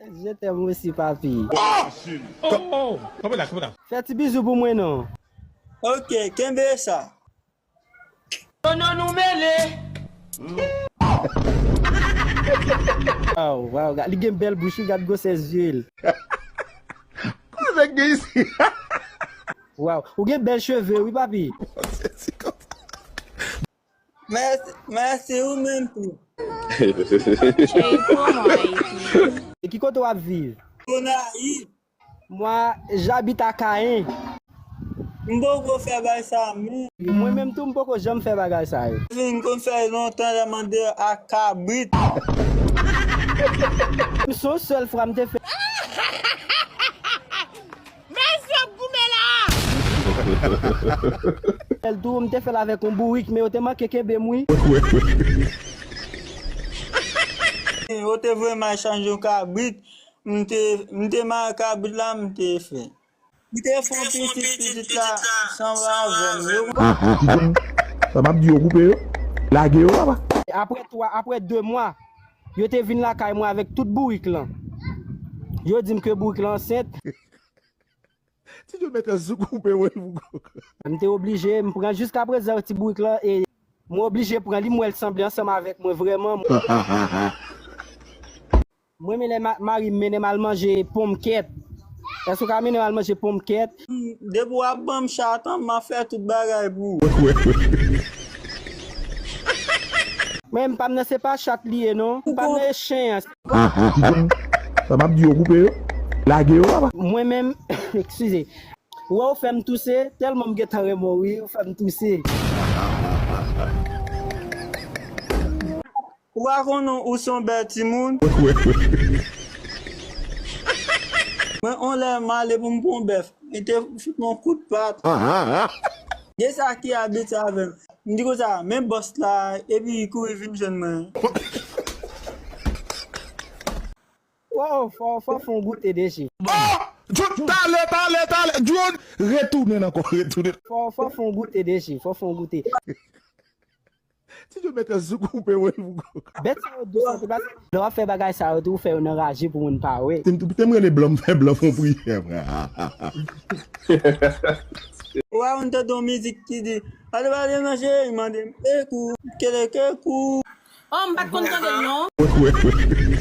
Je t'aime aussi papi. Fè ti bizou pou mwen non. Ok kenbe sa. Oh non nou mele. Waw waw gad li gen bèl bouch wi gad gwosè zye l. Koz nèg gen isit. Waw ou gen bèl cheve wi papi. Mèsi, mèsi ou menm tou. Jay pran mwen Ayiti. E ki kote wap viv? Gonayiv. Moi j'habite à Caen. M poko fè bay sa menm. Mwen menm tou m poko janm fè bagay sa yo. Wi m konn fè lontan lè m ande ak kabrit. M son sèl fwa m te fè. Mezz yo ap goumen la. L tou m te fèl avèk yon bourik men yo te manke kenbem wi. Yo te voye m al chanje yon kabrit m te m te mare kabrit la m te fè. M te fè yon pitit pitit la sanble avèm yo. Aha timoun sa map di yo koupe yo lage yo papa. Aprè 3 aprè 2 mwa. Yo te vin lakay mwen avèk tout bourik lan. Yo di m ke bourik lan ansent. Ti Djo mèt anzou koupe wè l pou kòk. M te oblije, m pran jiska prezan ti bourik lan e. Mwen oblije pran li, m wè l sanble ansanm avèk mwen vrèman. M renmen lè mari m mennen m al manje ponmkèt. Èske w ka mennen m al manje ponmkèt? Depi wap banm chat an ma fè tout bagay pou ou. Menm pam nan se pa chat li ye non pam nan e chen an. Sa map di yo koupe yo lage yo papa. Mwen menm ekskize. Weww fèm touse telman m gentan renmen w wi ou fèm touse. Ou pa konnen ou son bèl timoun? Mwen on lè m ale pou m pran on bèf, li te fout m on kout pat. Gen sa ki abit sa avè m. M di konsa, men bòs la, epi li kouri vin jwenn mwen. Woww fò fò fon goute deje. Oh! Djoune tale tale tale Djoune retounen ankò retounen. Fò fò fon goute deje fò fon goute. Ti jo mèt sou koupe wèl pou gou. Bèt sa yo dous anpil paske. Lè wap fè bagay sa yo tou ou fè yo nan raje pou moun pa wè. Tem rele blan m fè blan fon priyè vre hahahaha. Wè ou m tande yon mizik ki di Pale pale nan je m mande m ekou kelekekou. Oh m pat konn tande l non. Wè wè wè.